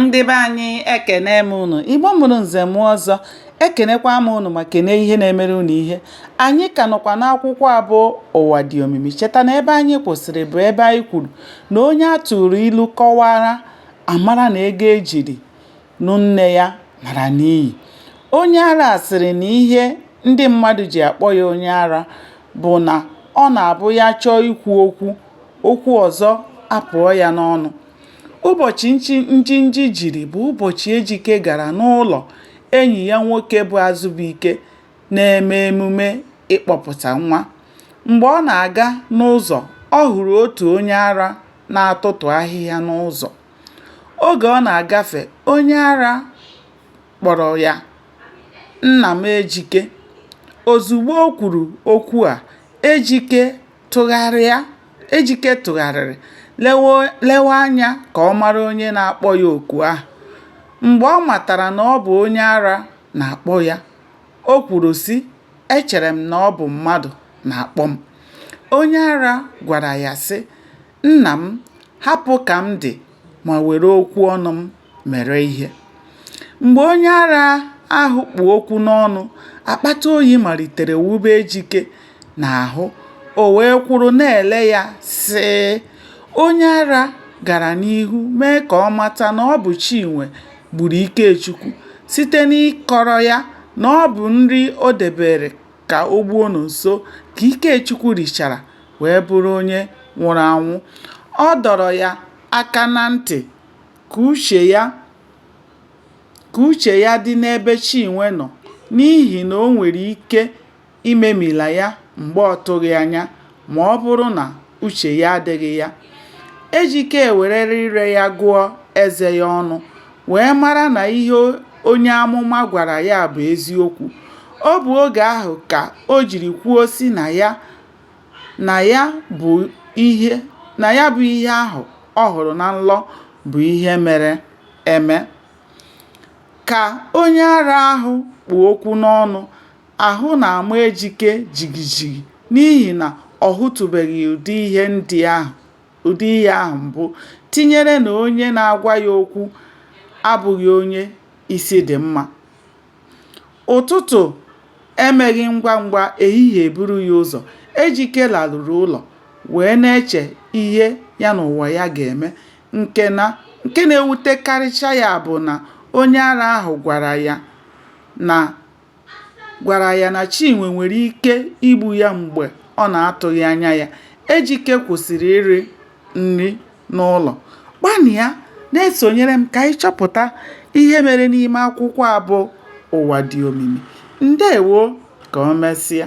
ndị be anyị ekene m unu igbo mụrụ nze mụọ ọzọ ekenekwa m unu ma kenee ihe na-emere unu ihe anyị ka nọkwa n'akwụkwọ a bụ ụwa dị omimi cheta na ebe anyị kwụsịrị bụ ebe anyị kwuru na onye a tụrụ ilu kọwara amara na ego ejiri nụ nne ya mara n'iyi onye ara sịrị na ihe ndị mmadụ ji akpọ ya onye ara bụ na ọ na-abụ ya chọọ ikwu okwu okwu ọzọ apụọ ya n'ọnụ Ụbọchị Njinji jiri bụ ụbọchị Ejike gara n'ụlọ enyi ya nwoke bụ Azụbụike na-eme emume ịkpọpụta nwa. Mgbe ọ na-aga n'ụzọ, ọ hụrụ otu onye ara na-atụtụ ahịhịa n'ụzọ. Oge ọ na-agafe, onye ara kpọrọ ya "Nna m Ejike." Ozugbo o kwuru okwu a, Ejike. Tụgharịa, Ejike tụgharịrị lewe anya ka ọ mara onye na-akpọ ya oku ahụ. Mgbe ọ matara na ọ bụ onye ara na-akpọ ya, o kwuru, sị, Echere m na ọ bụ mmadụ na-akpọ m. Onye ara gwara ya, sị, Nna m, hapụ ka m dị ma were okwu ọnụ m mere ihe. Mgbe onye ara ahụ kpụ okwu n'ọnụ, akpata oyi malitere wube Ejike n'ahụ, o wee kwụrụ na-ele ya sịị. Onye ara gara n'ihu mee ka ọ mata na ọ bụ Chinwe gburu Ikechukwu site n'ịkọrọ ya na ọ bụ nri o debere ka o gbuo Nonso ka Ikechukwu richara wee bụrụ onye nwụrụ anwụ. Ọ dọrọ ya aka na ntị ka uche ya ka uche ya dị n'ebe Chinwe nọ n'ihi na o nwere ike imemila ya mgbe ọ tụghị anya ma ọ bụrụ na uche ya adịghị ya. Ejike werere ire ya gụọ eze ya ọnụ wee mara na ihe onye amụma gwara ya bụ eziokwu. Ọ bụ oge ahụ ka o jiri kwuo sị na ya na ya bụ ihe na ya bụ ihe ahụ ọ hụrụ na nlọ bụ ihe mere eme. Ka onye ara ahụ kpụ okwu n'ọnụ, ahụ na-ama Ejike jigijigi n'ihi na ọ hụtụbeghị ụdị ihe ndị ahụ ụdị ihe ahụ mbụ, tinyere na onye na-agwa ya okwu abụghị onye isi dị mma. Ụtụtụ emeghị ngwa ngwa, ehihie eburu ya ụzọ. Ejike laruru ụlọ wee na-eche ihe ya na ụwa ya ga-eme. Nke na nke na-ewutekarịcha ya bụ na onye ara ahụ gwara ya na gwara ya na Chinwe nwere ike igbu ya mgbe ọ na-atụghị anya ya. Ejike kwụsịrị iri nri. n'ụlọ. Gbalịa na-esonyere m ka anyị chọpụta ihe mere n'ime akwụkwọ a bụ Ụwa Dị Omimi. Ndewo! Ka o mesịa.